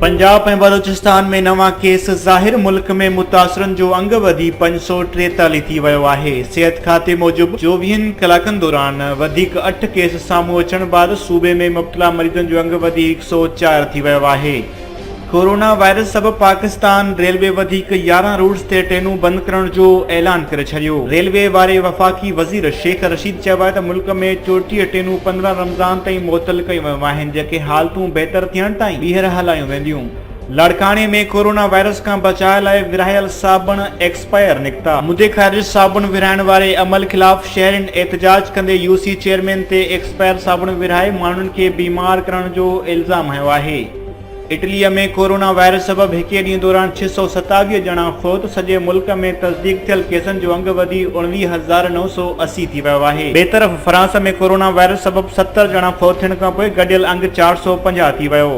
پنجاب ۽ بلوچستان ۾ نوان ڪيس ظاهر ملڪ ۾ متاثرن جو انگ وڌي پنج سو ٽيتاليهه ٿي ويو آهي صحت کاتي موجب چوويهن ڪلاڪن دوران وڌيڪ اٺ ڪيس سامهون اچڻ بعد صوبي ۾ مبتلا مريضن جو انگ وڌي هڪ سو چار ٿي ويو آهي ڪورونا وائرس سبب پاڪستان ريلوي وڌيڪ يارهن روٽس تي ٽرينون بند ڪرڻ جو اعلان ڪري ڇڏيو ريلوي واري وفاقي وزير شيخ رشيد چيو آهي ته ملڪ ۾ چوٽيهه ٽرينون پندرهن رمضان تائين معطل ڪيون ويون آهن جيڪي حالتون بهتر ٿيڻ تائين ٻيهر هلايون وينديون. لاڙڪاڻي ۾ ڪورونا وائرس کان بچاء لاء ورهايل صابڻ ايڪسپائر نڪتا. مدي خارج صابڻ ورهائڻ واري عمل خلاف شهرين احتجاج ڪندي يو سي چيئرمين تي ايڪسپائر صابڻ ورهائي ماڻهن کي بيمار ڪرڻ جو الزام هنيو آهي. اٽليء ۾ ڪورونا وائرس سبب هڪئي ڏينهن دوران ڇهه سؤ ستاويهه ڄڻا فوت، سڄي ملڪ ۾ تصديق ٿيل ڪيسن جو انگ وڌي اڻويهه هزار نو سؤ اسي ٿي ويو آهي. ٻئي طرف فرانس ۾ ڪورونا وائرس سبب ستر ڄڻا فوت ٿيڻ کان پوء گڏيل انگ چار سؤ پنجاهه ٿي ويو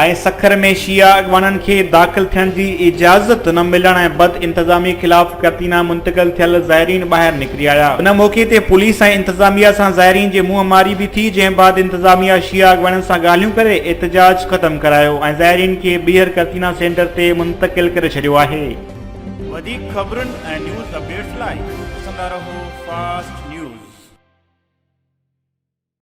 آهي. سکر ۾ شيعا اڳواڻن کي داخل ٿيڻ جي اجازت نه ملڻ ۽ بد انتظامي خلاف ڪتينا منتقل ٿيل زائرين ٻاهر نڪري آيا ان موقعي تي پوليس ۽ انتظاميا سان زائرين جي منهن ماري به ٿي جنهن بعد انتظاميا شيعا اڳواڻن سان ڳالهيون ڪري احتجاج ختم ڪرايو ۽ زائرين کي ٻيهر ڪتينا سينٽر تي منتقل ڪري ڇڏيو آهي. وڌيڪ خبرن ۽ نيوز اپڊيٽس لاء ڏسندا رهو فاسٽ نيوز.